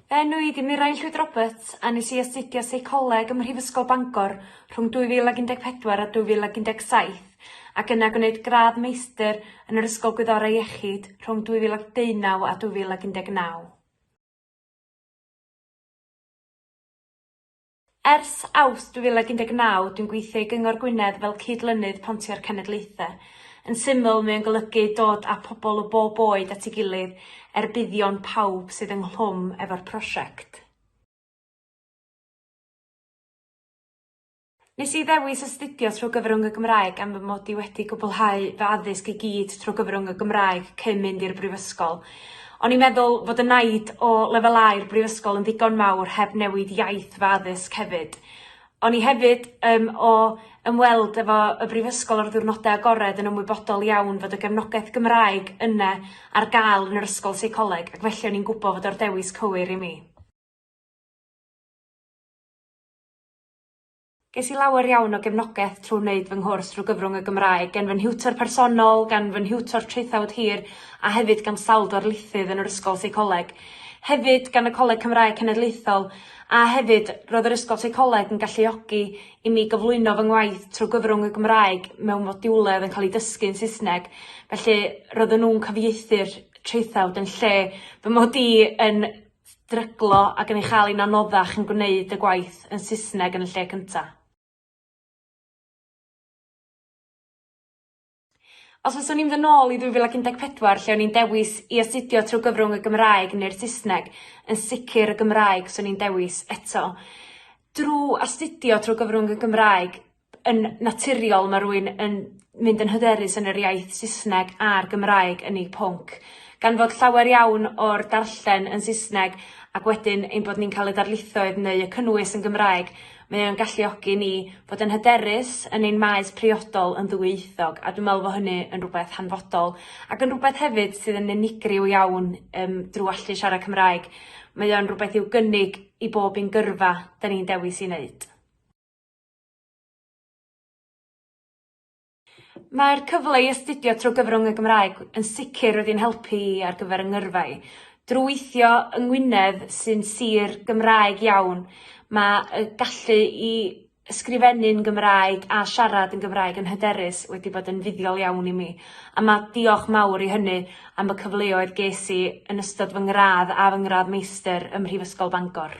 Fy enw i ydi Mirain Llwyd Roberts a nes i astudio Seicoleg ym Mhrifysgol Bangor rhwng 2014 a 2017 ac yna gwneud gradd meistr yn yr Ysgol Gwyddorau Iechyd rhwng 2019 a 2019. Ers Awst 2019 dwi'n gweithio i Gyngor Gwynedd fel Cyd-lynydd Pontio'r Cenedlaethau. Yn syml, mae o'n golygu dod â pobl o bob oed at ei gilydd er buddion pawb sydd ynghlwm efo'r prosiect. Nes i ddewis astudio trwy gyfrwng y Gymraeg am fy mod i wedi cwblhau fy addysg i gyd trwy gyfrwng y Gymraeg cyn mynd i'r brifysgol. O'n i'n meddwl fod y naid o lefelau'r brifysgol yn ddigon mawr heb newid iaith fy addysg hefyd. O'n i hefyd um, o ymweld efo y brifysgol ar ddiwrnodau agored yn ymwybodol iawn fod y gefnogaeth Gymraeg yna ar gael yn yr ysgol seicoleg ac felly o'n i'n gwybod fod o'r dewis cywir i mi. Ges i lawer iawn o gefnogaeth trwy wneud fy nghwrs drwy gyfrwng y Gymraeg, gen fy nhiwtor personol, gan fy nhiwtor traethawd hir a hefyd gan sawl darlithydd yn yr Ysgol Seicoleg. Hefyd, gan y Coleg Cymraeg Cenedlaethol, a hefyd, roedd yr Ysgol Seicoleg yn galluogi i mi gyflwyno fy ngwaith trwy gyfrwng y Gymraeg mewn modiwlau oedd yn cael eu dysgu yn Saesneg, felly roedden nhw'n cyfieithu'r traethawd yn lle fy mod i yn stryglo ac yn ei chael hi'n anoddach yn gwneud y gwaith yn Saesneg yn y lle cyntaf. Os fyswn i'n fynd nôl i 2014 lle o'n i'n dewis i astudio trwy gyfrwng y Gymraeg neu'r Saesneg, yn sicr y Gymraeg swn i'n dewis eto. Drwy astudio trwy gyfrwng y Gymraeg, yn naturiol mae rwy'n yn mynd yn hyderus yn yr iaith Saesneg a'r Gymraeg yn eu pwnc, gan fod llawer iawn o'r darllen yn Saesneg ac wedyn ein bod ni'n cael y darlithoedd neu y cynnwys yn Gymraeg, mae o'n galluogi ni fod yn hyderus yn ein maes priodol yn ddwyieithog a dwi'n meddwl fod hynny yn rhywbeth hanfodol ac yn rhywbeth hefyd sydd yn unigryw iawn um, drwy allu siarad Cymraeg. Mae o'n rhywbeth i'w gynnig i bob un gyrfa da ni'n dewis i wneud. Mae'r cyfle i astudio trwy gyfrwng y Gymraeg yn sicr wedi'n helpu i ar gyfer 'y ngyrfa i. Drwy weithio yng Ngwynedd sy'n sir Gymraeg iawn, mae y gallu i ysgrifennu'n Gymraeg a siarad yn Gymraeg yn hyderus wedi bod yn fuddiol iawn i mi, a mae diolch mawr i hynny am y cyfleoedd ges i yn ystod fy ngradd a fy ngradd meistr ym Mhrifysgol Bangor.